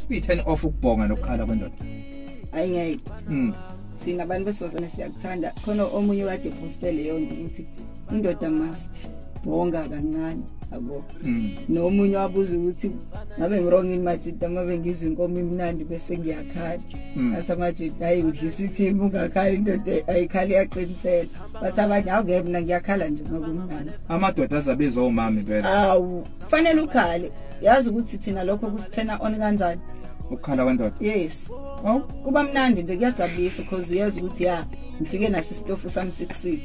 Kuyi turn off ukubhonga nokuqala kwendoda. Hayi ngeke. Mm. Sina abantu besizana siyakuthanda khona omunye kade poste leyo nto ukuthi indoda must bonga kancane yabo mm. nomunye wabuza ukuthi ngabe ngirong in majita uma bengizwa inkomo imnandi bese ngiyakhala mm. athi amajita hayi udlisa ithimu ungakhali indoda ayikhali yaqinisela bathi abanye awungeke mna ngiyakhala nje ngoba umnandi amadoda azabiza omama impela awu fanele ukhale yazi ukuthi thina lokho kusithena on kanjani ukukhala kwendoda yes oh kuba mnandi nje kuyajabulisa because uyazi ukuthi ya ngifike naso isitofu sami 66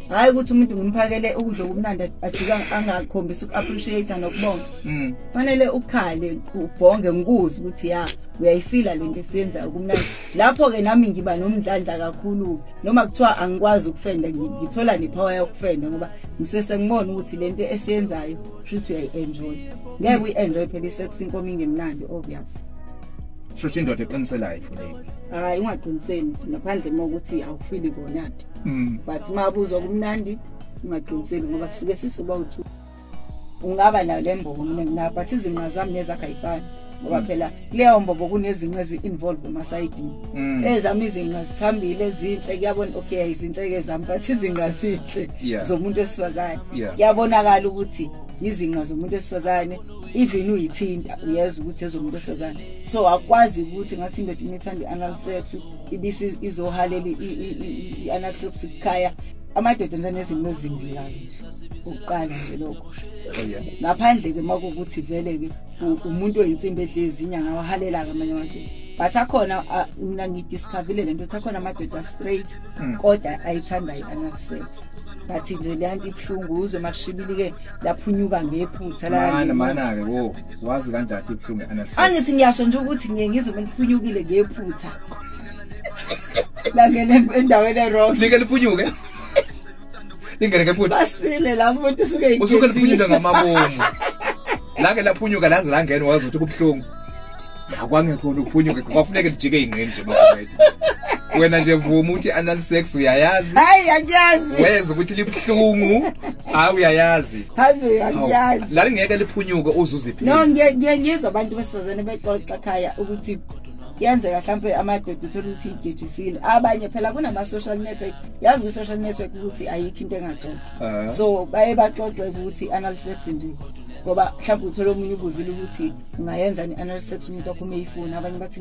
hayi ukuthi umuntu ngimphakele ukudla okumnandi ajika angakhombisa uku-appreciate nokubonga mm. fanele mm. ukhale ubhonge ngikuzi ukuthi ya uyayifila le nto esiyenzayo kumnandi lapho-ke nami ngiba nomdlandla kakhulu noma kuthiwa angikwazi ukufenda ngithola nepower yokufenda ngoba ngise sengibona ukuthi lento esiyenzayo shuthi uyayi-enjoy ngeke uyi-enjoy phela i-sex inkomo ingemnandi obvious shusho indoda eqiniselayo ifuneki hayi ungaqiniseli ngaphandle uma ukuthi awufili kona-ke mm. but uma abuzwa kumnandi ungaqiniseli ngoba suke sisuba uthu ungaba nayo le mbono mina nginayo but izinqa zami nezakhe ayifani ngoba mm. phela kuleyo mbobo kunezinqe ezi-involve emasayidini mm. ezami izinqa zithambile ezinhle kuyabona okay izinhle-ke zami but izinqa zinhle zomuntu wesifazane kuyabonakala ukuthi yizinqa zomuntu wesifazane even uyithinta uyeza ukuthi ezomuntu wesifazane so akwazi ukuthi ngathi indoda uma ithanda i-anal sex ibisi izohalela i-anal sex kukhaya amadoda nje nezinto ezimbi kabi ukuqala nje lokho oh, ngaphandle ke makukuthi vele ke umuntu oyinsimbi edlezi inyanga wahalela-ke amanye amadoda but akhona mina ngidiscavile le nto ukuthi akhona amadoda straight hmm. kodwa ayithanda i-anal sex but nje leya nto ibuhlungu uzwe uma kushibili-ke laphunyuka ngephutha mana-ke wo wazi kanjani ibuhlungu i-anal sex angithi ngiyasho nje ukuthi ngiye ngizwe meliphunyukile ngephutha langene endaweni erong like liphunyuke ingene ke futhi basile la muntu usuke ikhethe usuke liphunyuka ngamabomu lake laphunyuka laze langena wazi ukuthi kubuhlungu akwangekho ukuphunyuka kwafuneka lijike ingqini nje mafethu wena nje vuma uthi anal sex uyayazi hayi angiyazi weza ukuthi libuhlungu hayi uyayazi hayi angiyazi la lingeke liphunyuke uzuziphi no ngiye ngizwa abantu besizane bexoxa khaya ukuthi yenzeka mhlambe amadoda uthola ukuthi igejisile abanye phela kunama social network yazi kwi-social network ukuthi ayikho into engaxoxa ah. so baye baxoxe ukuthi anal sex nje ngoba mhlawumbe uthole omunye ubuzile ukuthi ungayenza ni-anal sex umuntu wakho uma eyifuna abanye bathi